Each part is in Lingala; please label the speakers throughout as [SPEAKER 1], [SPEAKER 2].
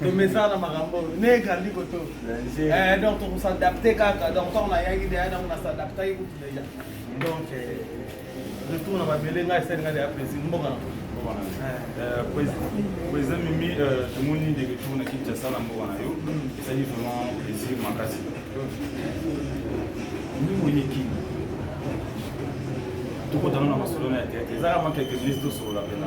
[SPEAKER 1] tomesana makambo oyo ne ekaldi koto eh, donc tokosadapte kaka donc ntango nayaki deya donc nasadaptaki kutu deja donc eh, retour na mabele ngai esali ngai deya plaisir mboka na
[SPEAKER 2] président eh, mimi tomoni nde retour na kinshasa na mboka na yo esali vraiment plaisir makasi mimoni kini tokotana na masolo na ya teyate ezaka mwa quelque minutes tosolola mpena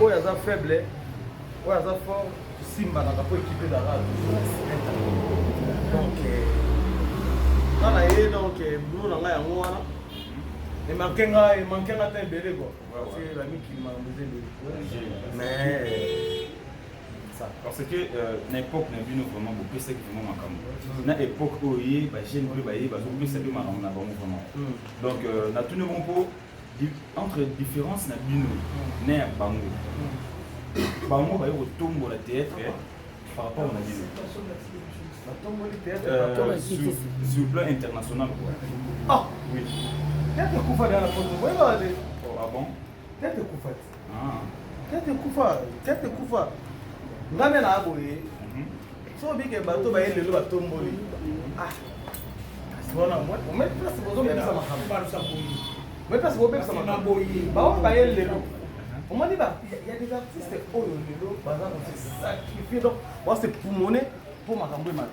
[SPEAKER 1] Oyo aza faible, oyo aza fort, simbanaka mpo ekipe ezalaka donc nga na ye donc boulot na nga yango wana emanke nga emanke nga ta ebele kua parce que bamikili makambo eza ebele mais
[SPEAKER 2] parce que euh, na époque na bino vraiment bopesaki vraiment makambo mm. na époque oyo ye bajeune mpe baye bazopesa mpe makambo na bango vraiment mm. donc euh, natuni bongo mpo entre différence na bino na ya bango bango baye kotombola théâtre par rapport na bino euh, sur plan international quoi ah oui
[SPEAKER 1] théâtre ekufa na poto boyebaka te oh, ah bon
[SPEAKER 2] théâtre ekufa te
[SPEAKER 1] Tete kufa, tete kufa. Ngambe na aboye. So bike bato ba yelelo ba tomboli. Ah. Sibona mwe, mwe place bozo mbisa makambo. Ba rusa boyi. Mwe place bozo mbisa makambo. Boyi. Ba o ba yelelo. Omoni ba ya des artistes oyo lelo baza ko se sacrifier donc ba se poumoner pour makambo emata.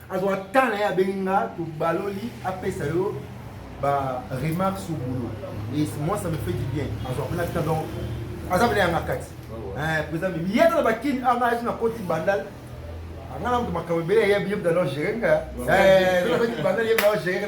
[SPEAKER 3] azwa temps na ye abengi nga tobaloli apesa yo ba remarques au boulot et moi ça me fait du bien azwa mpena temps donc aza mpena yanga kati eh, président mimi ye tala bakini anga azi na koti bandal anga na moto makambo ebele yebi yebi dalo gere nga bandal yebi dalo gere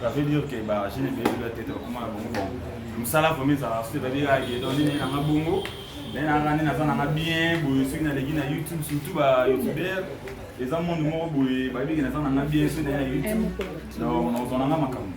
[SPEAKER 2] ça veut dire que ba jeune ebele bela tete bakoma na bongo bongo mosala vraimen ezalaka soki ezali kaka ye donc nini nanga bongo nde nanga nde naza nanga bien boye soki naleki na youtube surtout ba youtubeur eza monde moko boye bayebi ke naza nanga bien soki naye na youtube donc nazwa nanga makambo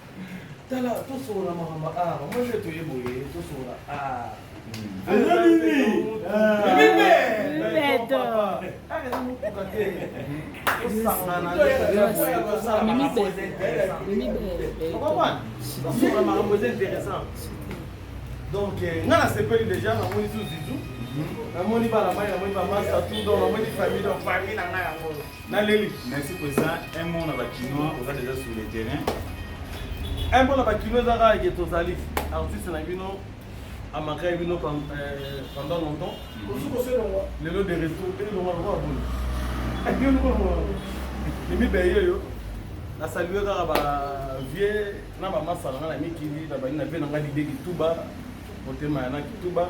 [SPEAKER 1] Tala, tosolola makambo a ah, bango nde toye boye, tosolola a ah. makambo eza intéressant donc euh, nga nasepeli déjà namoni zuzizu namoni bana mai namoni bamasa tout donc namoni famille donc famille na ngai yango Na leli. Merci président.
[SPEAKER 2] Un mot na ba kinois oza déjà sur le terrain.
[SPEAKER 1] Un mot na ba kinois eza kaka ke tozali artiste na bino amakaki bino euh, pendant longtemps. Mm-hmm. Lelo de retour pe longa longa boni. Ayo longa. Mimi beye yo. Na saluer kaka ba vieux na ba masala na mikili na bani na pe na ngai lide kituba motema ya na kituba